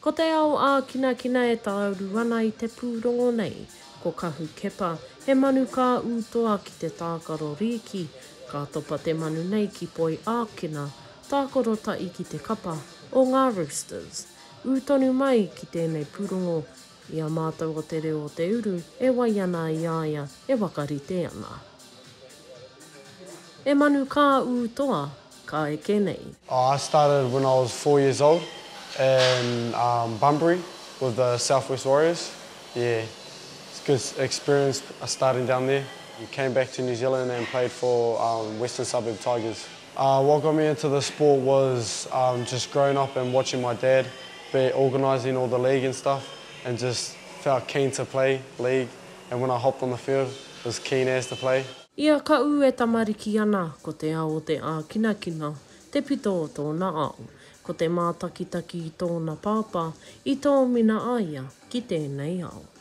Ko te ao ākinakina e tāuru ana i te pūrongo nei, ko Kahu Kepa, he manu ka ū toa ki te tākaro rīki, ka topa te manu nei ki Poi Ākina, tākaro tahi ki te kapa o ngā Roosters. Ū tonu mai ki tēnei pūrongo I a mātou o te reo o te uru e wai ana i a ia e whakarite ana. E manu kā ū toa, ka eke nei. Oh I started when I was four years old in um Bunbury with the South West Warriors yeah it's good experience starting down there came back to New Zealand and played for um Western Suburb Tigers. Uh what got me into the sport was um just growing up and watching my dad be organising all the league and stuff and just felt keen to play league and when I hopped on the field was keen as to play. I a Kaʻū e tamariki ana, ko te ao o te ākinakina te pito o tōna ao. Ko te mātakitaki i tōna pāpā i tōmina a ia ki tēnei ao.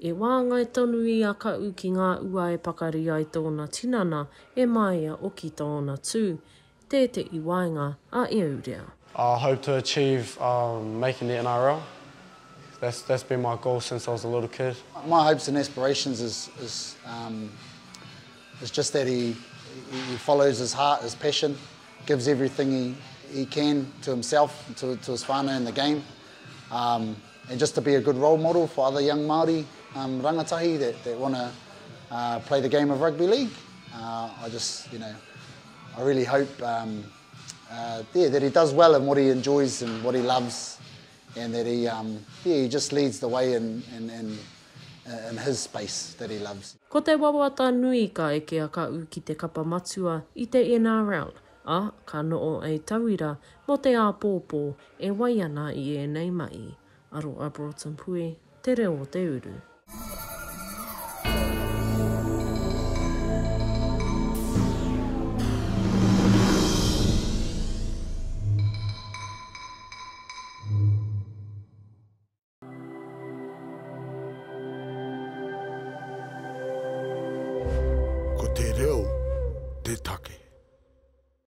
E wāngai tonu i a Kaʻu ki ngā ua e pakari ai tōna tinana, e māia oki tōna tū. Tē te i waenga a Eurea. I hope to achieve making the NRL, that's that's been my goal since I was a little kid. My hopes and aspirations is is um is just that he he follows his heart, his passion, gives everything he he can to himself, to to his whanau and the game. Um. And just to be a good role model for other young Māori rangatahi that want to play the game of rugby league, I just, you know, I really hope that he does well in what he enjoys and what he loves and that he, yeah, he just leads the way in his space that he loves. Ko te wawata nui ka eke a Kaʻu ki te kapa matua i te NRL, Ā, ka noho a Tauira mō te āpōpō e wai ana i ēnei mahi. Aro a Broughton Pue, Te Reo o te Uru. Ko te reo te take.